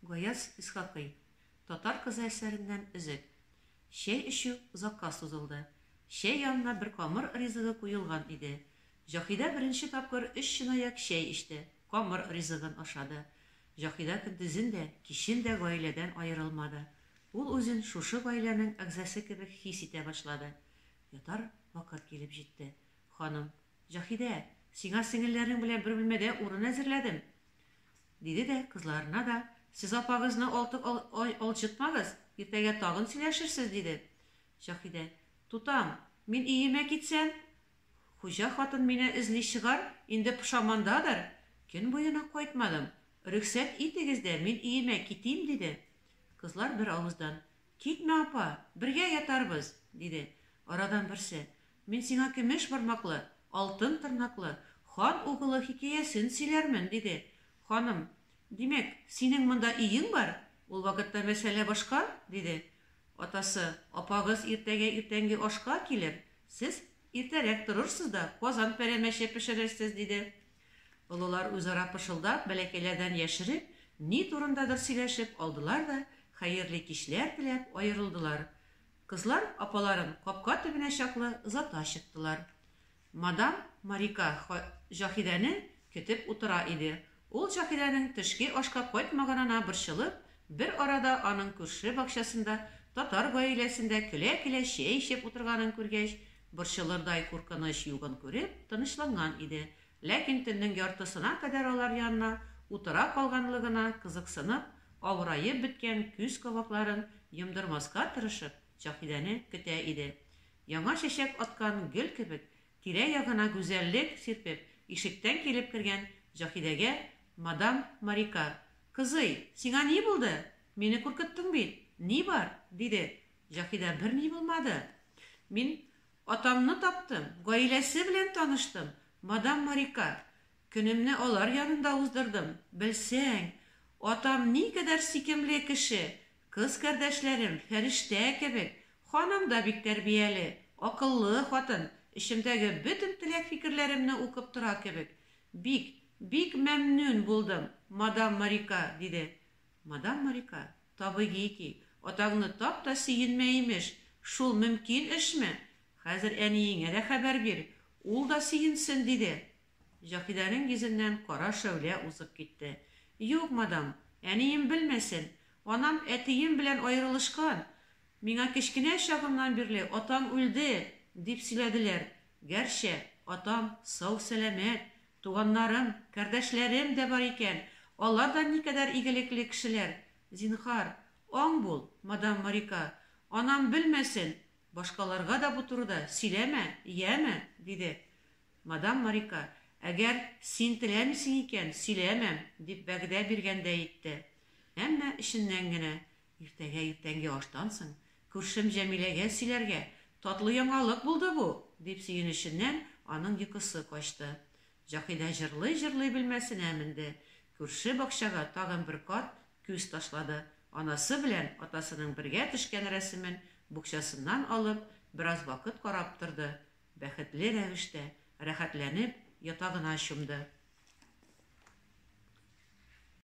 Гаяз Исхакый, Татар кызы әсәреннән өзек. Чәй эчү озакка сузылды. Чәй янына бер камыр ризыгы куелган иде. Җаһидә беренче тапкыр өч чынаяк чәй эчте, камыр ризыгын ашады. Җаһидә көндезен дә, кичен дә гаиләдән аерылмады. Ул үзен шушы гаиләнең әгъзасы кебек хис итә башлады. Ятар вакыт килеп җитте. Ханым, Заһидә, сиңа сеңелләрең белән бер бүлмәдә урын әзерләдем, диде дә кызларына да, Сез апагызны алты ай алҗытмагыз, иртәгә тагын сөйләшерсез, диде. Заһидә, Тутам, мин өемә китсәм? Хуҗа хатын мине эзли чыгар, инде пошамандадыр. Көн буена кайтмадым. Рөхсәт итегез дә, мин өемә китим, диде. Кызлар бер авыздан, Китмә, апа, бергә ятарбыз, диде. Арадан берсе, Мин сиңа көмеш бармаклы, алтын тырнаклы хан угылы хикәясен сөйләрмен, диде. Ханым, Димәк, синең монда өең бар? Ул вакытта мәсьәлә башка, диде. Атасы, Апагыз иртәгә иртәнге ашка килер, сез иртәрәк торырсыз да казан пәрәмәче пешерерсез, диде. Олылар үзара пышылдап, бәләкәйләрдән яшереп, ни турындадыр сөйләшеп алдылар да, хәерле кичләр теләп аерылдылар. Кызлар апаларын капка төбенә чаклы озата чыктылар. Мадам Марика Ха Җаһидәне көтеп утыра иде. Ул Җаһидәнең төшке ашка кайтмаганына борчылып, бер арада аның күрше бакчасында татар гаиләсендә көлә-көлә чәй эчеп утырганын күргәч, борчылырдай куркыныч югын күреп, тынычланган иде, Ләкин төннең яртысына кадәр алар янына утыра калганлыгына кызыксынып, авыраеп беткән күз кабакларын йомдырмаска тырышып, Заһидәне көтә иде. Яңа чәчәк аткан гөл кебек, тирә-ягына гүзәллек сирпеп, ишектән килеп кергән Заһидәгә мадам Марика, Кызый, сиңа ни булды? Мине куркыттың бит. Ни бар? диде. Заһидә, Берни булмады. Мин Атамны таптым, гаиләсе белән таныштым, мадам Марика. Көнемне алар янында уздырдым. Белсәң, атам никадәр сикемле кеше! Кыз кардәшләрем, фәрештә кебек. Ханым да бик тәрбияле, акыллы хатын, эчемдәге бөтен теләк-фикерләремне укып тора кебек. Бик, бик мәмнүн булдым, мадам Марика, диде. Мадам Малика, табигый ки, атаңны тап та сөенмә, имеш, шул мөмкин эшме? Хәзер әниеңә дә хәбәр бир, ул да сөенсен, диде. Заһидәнең йөзеннән кара шәүлә узып китте. Юк, мадам, әнием белмәсен. Анам әтием белән аерылышкан. Миңа кечкенә чагымнан бирле атам үлде, дип сөйләделәр. Гәрчә, атам сау-сәламәт, Туганнарым, кардәшләрем дә бар икән, алар да никадәр игелекле кешеләр. Зинһар, аң бул, мадам Марика, анам белмәсен, башкаларга да бу турыда сөйләмә, яме, диде. Мадам Марика, Әгәр син теләмисең икән, сөйләмәм, дип вәгъдә биргәндәй итте. Әмма эченнән генә, Иртәгә иртәнге аштан соң күршем Җәмиләгә сөйләргә, татлы яңалык булды бу! дип сөенеченнән аның йокысы качты. Җакидә җырлый-җырлый бөлмәсенә менде. Күрше бакчага тагын бер кат күз ташлады. Анасы белән атасының бергә төшкән рәсемен букчасыннан алып, бераз вакыт карап торды. Бәхетле рәвештә, рәхәтләнеп ятагына чумды.